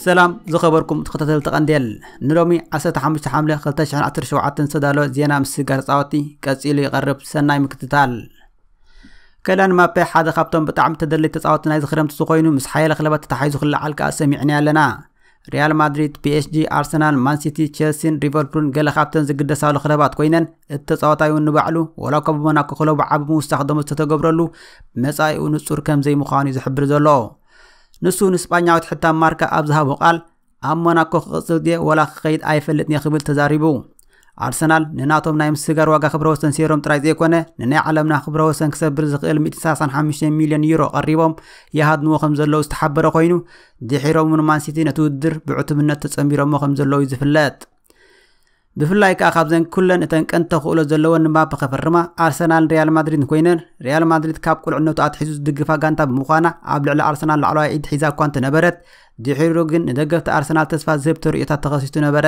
ሰላም ዝኸበርኩም ተኸታተልቲ ቀንዴል ንሎሚ 15 ሓምለ 2017 ዝተዳለወ ዜና ምስጋር ፃወቲ ቀፂሉ ይቐርብ ሰናይ ምክትታል ከላን ማፔ ሓደ ካብቶም ብጣዕሚ ተደለይቲ ተፃወቲ ናይዚ ክረምቲ ዝኾይኑ ምስ ሓያለ ክለባት ተታሓሒዙ ክለዓል ከዓ ሰሚዕና ኣለና ሪያል ማድሪድ ፒኤስጂ ኣርሰናል ማንሲቲ ቼልሲን ሊቨርፑልን ገለ ካብተን ዝግደሳሉ ክለባት ኮይነን እቲ ተፃዋታይ እውን ንባዕሉ ወላ እኳ ብሞናኮ ክለቡ ዓቢ ምውሳኽ ደሞ ዝተተገብረሉ መፃኢኡ ንፁር ከም ዘይምዃኑ እዩ ዝሕብር ዘሎ ንሱ ንስጳኛዊት ሕታም ማርካ ኣብ ዝሃቦ ቃል ኣብ ሞናኮ ክቕጽል ድየ ወላ ክኸይድ ኣይፈልጥን እየ ክብል ተዛሪቡ ኣርሰናል ንናቶም ናይ ምስጋር ዋጋ ክብረ ወሰን ሴሮም ጥራይ ዘይኮነ ንናይ ዓለምና ክብረ ወሰን ክሰብር ዝኽእል 135 ሚልዮን ዩሮ ቀሪቦም ይሃድንዎ ከም ዘለዉ ዝተሓበረ ኮይኑ ድሒሮም ንማንሲቲ ነቲ ውድድር ብዕቱብነት ተጸንቢሮሞ ከም ዘለዉ እዩ ዝፍለጥ ብፍላይ ከኣ ካብዘን ኩለን እተን ቀንዲ ተኽእሎ ዘለወን ንባፕ ከፈርማ ኣርሰናልን ሪያል ማድሪድን ኮይነን ሪያል ማድሪድ ካብ ቁልዕነቱ ኣትሒዙ ዝድግፋ ጋንታ ብምዃና ኣብ ልዕሊ ኣርሰናል ላዕለዋይ ኢድ ሒዛ እኳ እንተነበረት ድሒሩ ግን ንደገፍቲ ኣርሰናል ተስፋ ዝህብ ተርእዮታት ተኸሲቱ ነበረ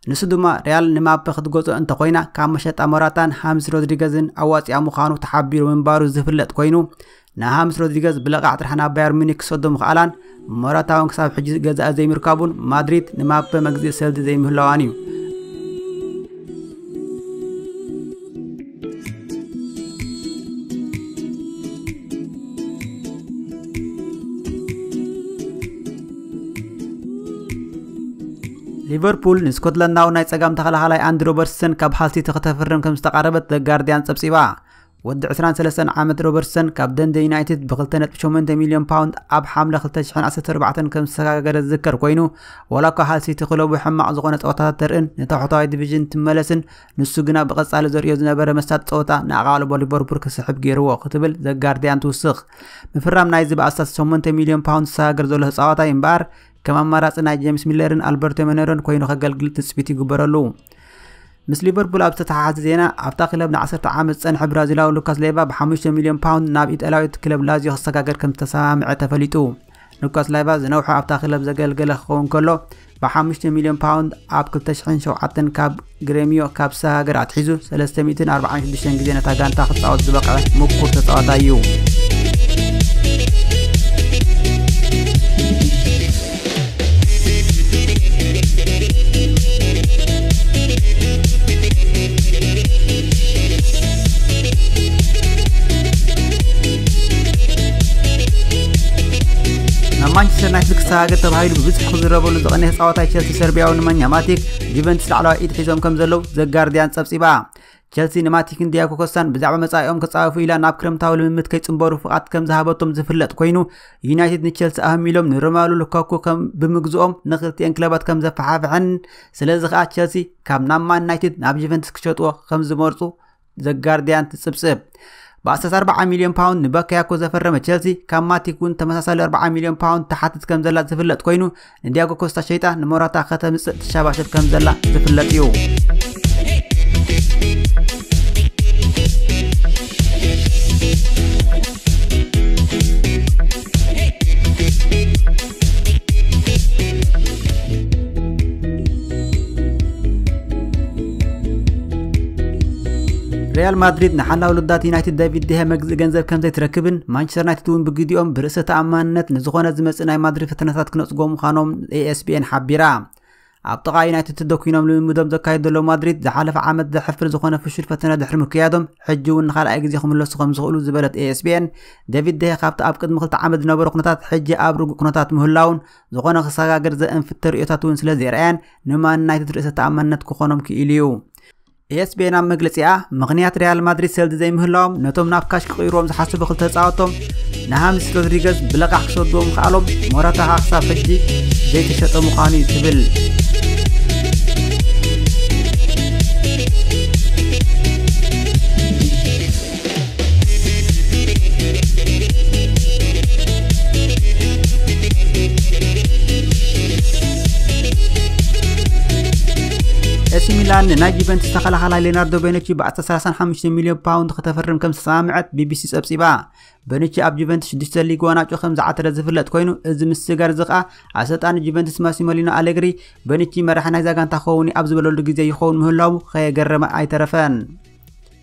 ንሱ ድማ ሪያል ንማፐ ክትገጾ እንተኮይና ካብ መሸጣ ሞራታን ሃምስ ሮድሪገዝን ኣዋፂኣ ምዃኑ ተሓቢሩ ምንባሩ ዝፍለጥ ኮይኑ ንሃምስ ሮድሪገዝ ብለቓዕ ጥራሕ ናብ ባየር ሙኒክ ክሰዶ ምኽኣላን ሞራታውን ክሳብ ሕጂ ገዛኢ ዘይምርካቡን ማድሪድ ንማፐ መግዝኢ ሰልዲ ዘይምህላዋን እዩ ሊቨርፑል ንስኮትላንዳዊ ናይ ጸጋም ተኸላኻላይ ኣንዲ ሮበርትሰን ካብ ሃልሲቲ ከተፍርም ከም ዝተቓረበት ዘጋርድያን ጸብጺባ ወዲ 23 ዓመት ሮበርትሰን ካብ ደንደ ዩናይትድ ብ2.8 ሚልዮን ፓውንድ ኣብ ሓምለ 2014 ከም ዝተሰጋገረ ዝዝከር ኮይኑ ዋላ እኳ ሃል ሲቲ ክለቡ ሕማቕ ዝኾነ ፀወታታት ተርእን ንታሕተዋይ ዲቪዥን ትመለስን ንሱ ግና ብቐጻሊ ዘርእዮ ዝነበረ መሳጢ ፀወታ ንኣቓልቦ ሊቨርፑል ክስሕብ ገይርዎ ክትብል ዘጋርዲያን ትውስኽ ምፍራም ናይዚ ብኣስታት 8 ሚልዮን ፓውንድ ዝሰጋገር ዘሎ ተፃዋታይ እምበኣር ከም ኣማራጺ ናይ ጄምስ ሚለርን ኣልበርቶ መነሮን ኮይኑ ከገልግል ትጽቢት ይግበረሉ። ምስ ሊቨርፑል ኣብ ዝተተሓሓዘ ዜና ኣብታ ክለብ ን10 ዓመት ዝጸንሐ ብራዚላዊ ሉካስ ሌቫ ብ5 ሚልዮን ፓውንድ ናብ ኢጣልያዊት ክለብ ላዚዮ ክሰጋገር ከም ዝተሰማምዐ ተፈሊጡ። ሉካስ ላይቫ ዝነውሐ ኣብታ ክለብ ዘገልገለ ክኸውን ከሎ ብ5 ሚልዮን ፓውንድ ኣብ 2007 ካብ ግሬሚዮ ካብ ሰጋገር ኣትሒዙ 346 ግዜ ነታ ጋንታ ክፃወት ዝበቕዐ ምኩር ተፃዋታይ እዩ ናብ ማንቸስተር ዩናይትድ ክሰጋገር ተባሂሉ ብብዝሒ ክዝረበሉ ዝቐንየ ተፃዋታይ ቸልሲ ሰርቢያዊ ንማኛ ማቲክ ጁቨንትስ ላዕለዋይ ኢድ ሒዞም ከም ዘለዉ ዘጋርዲያን ጸብጺባ ቸልሲ ንማቲክን ዲያጎ ኮስታን ብዛዕባ መጻኢኦም ክጻወፉ ኢላ ናብ ክረምታዊ ልምምድ ከይጽንበሩ ፍቓድ ከም ዝሃበቶም ዝፍለጥ ኮይኑ ዩናይትድ ንቸልሲ ኣህሚሎም ንሮማሉ ሉካኩ ከም ብምግዝኦም ንክልቲኤን ክለባት ከም ዘፈሓፍሐን ስለዚ ከዓ ቸልሲ ካብ ናብ ማን ዩናይትድ ናብ ጁቨንትስ ክሸጥዎ ከም ዝመርጹ ዘጋርዲያን ትጽብጽብ ብኣስታት 40 ሚልዮን ፓውንድ ንበካያኮ ዘፈረመ ቸልሲ ካብ ማቲክ እውን ተመሳሳሊ 40 ሚልዮን ፓውንድ ትሓትት ከም ዘላ ዝፍለጥ ኮይኑ ንዲያጎ ኮስታ ሸይጣ ንሞራታ ከተምጽእ ትሸባሸብ ከም ዘላ ዝፍለጥ እዩ ሪያል ማድሪድ ንሓላዊ ልዳት ዩናይትድ ዳቪድ ድሃ መግዝኢ ገንዘብ ከም ዘይትረክብን ማንቸስተር ዩናይትድ እውን ብግዲኦም ብርእሰ ተኣማንነት ንዝኾነ ዝመፅእ ናይ ማድሪድ ፈተነታት ክነፅጎ ምዃኖም ኤኤስቢኤን ሓቢራ ኣብ ጥቓ ዩናይትድ ተደኲኖም ልምምዶም ዘካየዱ ዘለዉ ማድሪድ ዝሓለፈ ዓመት ዘሕፍር ዝኾነ ፍሹል ፈተነ ድሕሪ ምክያዶም ሕጂ እውን ንኻልኣይ ግዜ ክምለሱ ከም ዝኽእሉ ዝበለት ኤኤስቢኤን ዴቪድ ደሄ ካብቲ ኣብ ቅድሚ ክልተ ዓመት ዝነበረ ኩነታት ሕጂ ኣብ ርጉእ ኩነታት ምህላውን ዝኾነ ክሰጋገር ዘእንፍት ተርእዮታት እውን ስለ ዘርኣያን ንማን ዩናይትድ ርእሰ ተኣማንነት ክኾኖም ክኢሉ እዩ ኤስፔን ኣብ መግለጺኣ ምኽንያት ሪያል ማድሪድ ሰልዲ ዘይምህላዎም ነቶም ናብ ካሽ ክቕይርዎም ዝሓስቡ ክልተ ተጻወቶም ንሃምስ ሮድሪገዝ ብለቓሕ ክሰድዎም ምኽኣሎም ሞራታ ኸኣ ክሳብ ሕጂ ዘይተሸጠ ምዃኑ እዩ ትብል ኤሲ ሚላን ንናይ ጁቨንትስ ተኸላኻላይ ሌናርዶ ቤነቺ ብ135 ሚልዮን ፓውንድ ከተፈርም ከም ዝተሰማምዐት ቢቢሲ ጸብጺባ በነቺ ኣብ ጁቨንትስ 6 ሊግ ዋናጮ ከም ዝዓተረ ዝፍለጥ ኮይኑ እዚ ምስጋር እዚ ከኣ ኣሰልጣኒ ጁቨንትስ ማሲሞሊኖ ኣሌግሪ በነቺ መራሒ ናይዛ ጋንታ ክኸውን ኣብ ዝበለሉ ግዜ ይኸውን ምህላዉ ከየገረመ ኣይተረፈን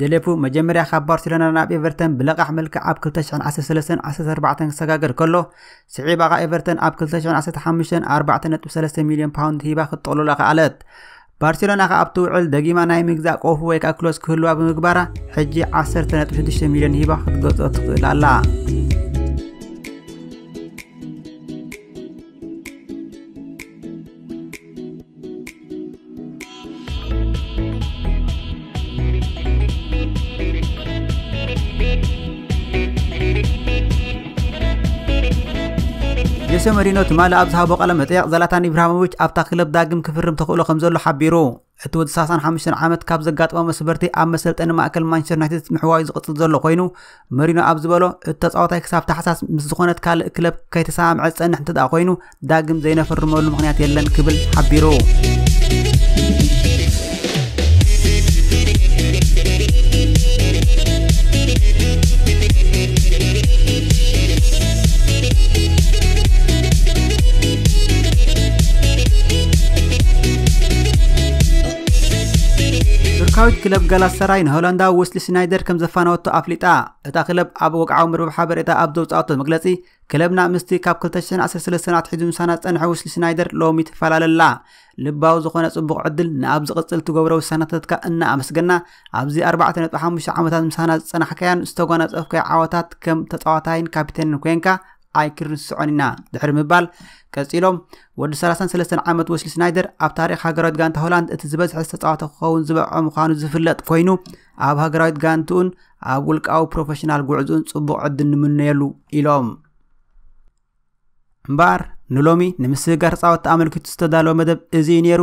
ደሌፉ መጀመርያ ካብ ባርሴሎና ናብ ኤቨርተን ብለቓሕ መልክዕ ኣብ 2013ን 14ን ክሰጋገር ከሎ ስዒባ ኸኣ ኤቨርተን ኣብ 2015 4.3 ሚልዮን ፓውንድ ሂባ ክትጠቕልሎ ከኣለት። ባርሴሎና ኸኣ ኣብቲ ውዕል ደጊማ ናይ ምግዛእ ቆፉ ወይ ከኣ ክሎስ ክህልዋ ብምግባራ ሕጂ 10.6 ሚልዮን ሂባ ክትገዝኦ ትኽእል ኣላ። ጆሴ መሪኖ ትማሊ ኣብ ዝሃቦ ቃለ መጠይቕ ዘላታን ኢብራሂሞቪች ኣብታ ክለብ ዳግም ክፍርም ተኽእሎ ከምዘሎ ሓቢሩ። እቲ ወዲ 35 ዓመት ካብ ዘጋጠመ መስበርቲ ኣብ መሰልጠኒ ማእከል ማንቸስተር ዩናይትድ ምሕዋዩ ዝቕጽል ዘሎ ኮይኑ መሪኖ ኣብ ዝበሎ እቲ ተጻዋታይ ክሳብ ታሕሳስ ምስ ዝኾነት ካልእ ክለብ ከይተሰማምዐ ዝጸንሕ እንተደኣ ኮይኑ ዳግም ዘይነፈርመሉ ምክንያት የለን ክብል ሓቢሩ ቱርካዊት ክለብ ጋላሰራይ ንሆላንዳዊ ወስሊ ስናይደር ከም ዘፋነወቶ ኣፍሊጣ እታ ክለብ ኣብ ወግዓዊ መርበብ ሓበሬታ ኣብ ዘውፅኣቶ መግለፂ ክለብና ምስቲ ካብ 213 ኣትሒዙ ምሳና ዝፀንሐ ወስሊ ስናይደር ሎሚ ትፈላለላ ልባዊ ዝኾነ ፅቡቕ ዕድል ንኣብ ዝቕፅል ትገብሮ ውሳነታትካ እናኣመስገና ኣብዚ 4.5 ዓመታት ምሳና ዝፀናሕካያን ዝተጓናፀፍካዮ ዓወታት ከም ተፃዋታይን ካፒቴንን ኮንካ ኣይክንርስዖን ኢና ድሕሪ ምባል ቀፂሎም ወዲ 33 ዓመት ወስሊ ስናይደር ኣብ ታሪክ ሃገራዊት ጋንታ ሆላንድ እቲ ዝበዝሐ ዝተፃወተ ክኸውን ዝበዐ ምዃኑ ዝፍለጥ ኮይኑ ኣብ ሃገራዊት ጋንትኡን ኣብ ውልቃዊ ፕሮፌሽናል ጉዕዝኡን ፅቡቕ ዕድል ንምነየሉ ኢሎም እምበኣር ንሎሚ ንምስግጋር ተፃወቲ ኣመልኪቱ ዝተዳለወ መደብ እዚ እዩ ነይሩ